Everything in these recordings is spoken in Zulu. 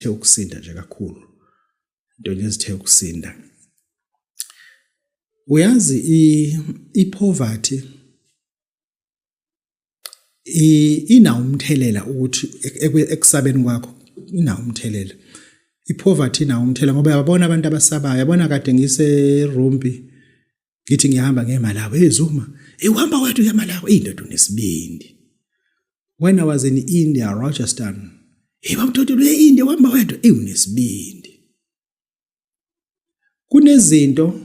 zithe ukusinda nje kakhulu into nje zithe ukusinda uyazi i poverty ina umthelela ukuthi ekusabeni kwakho ina umthelela i poverty ina umthelela ngoba yabona abantu abasabayo yabona kade ngise rumpi ngithi ngiyahamba ngemalawo hey zuma hey uhamba wethu yamalawo hey ndoda unesibindi when i was in india rochester hey bamthothi le india uhamba wethu hey unesibindi kunezinto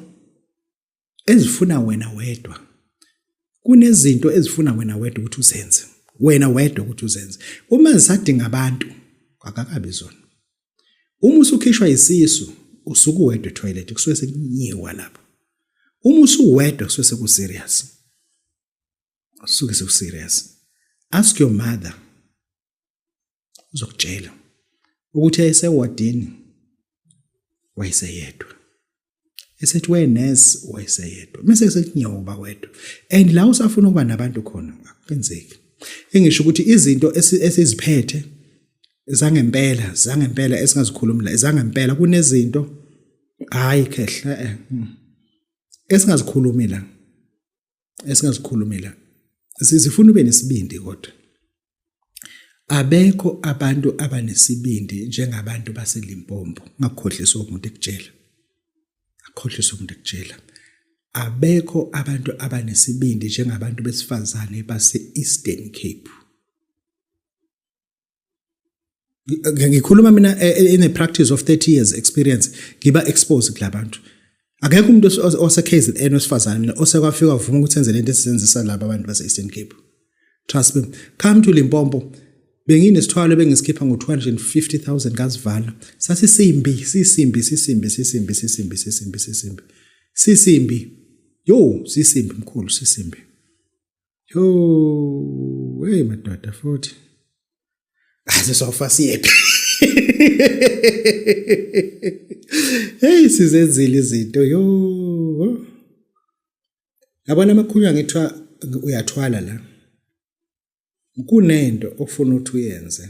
ezifuna wena wedwa kunezinto ezifuna wena wedwa ukuthi uzenze wena wedwa ukuthi uzenze uma zisadinga abantu akakabi zona uma usukhishwa isisu usuku wedwa toilet kusuke sekunyiwa lapho uma usuwedwa kusuke seku serious usuke seku serious ask your mother uzokutshela ukuthi ayesewardini wayeseyedwa esethi we nurse wayeseyedwa mase kusethi nyoba wedwa and la usafuna ukuba nabantu khona akenzeki engisho ukuthi izinto esiziphethe zangempela zangempela esingazikhulumi la zangempela kunezinto hayi khehla eh, mm, esingazikhulumi la esingazikhulumela sizifuna ube nesibindi kodwa abekho abantu abanesibindi njengabantu baselimpompo ngakhohlisa umuntu ekutshela akhohlisa umuntu ekutshela abekho abantu abanesibindi njengabantu besifazane base-eastern cape ngikhuluma mina e, e, in a practice of 30 years experience ngiba exposed kulabantu akekho umuntu ose KZN wesifazane mina osekwafika uvuma ukuthi enze lento esisenzisa laba abantu base Eastern Cape trust me come to Limpopo benginesithwalo bengisikhipha ngo-250000 ngasivala sasisimbi sisimbi sisimbi sisimbi sisimbi sisimbi sisimbi sisimbi yo sisimbi mkhulu sisimbi Yo, hey madoda futhi. Asisofa siyephi. Hey sizenzile izinto yo. Yabona amakhulu angithiwa uyathwala la. Kunento ofuna ukuthi uyenze.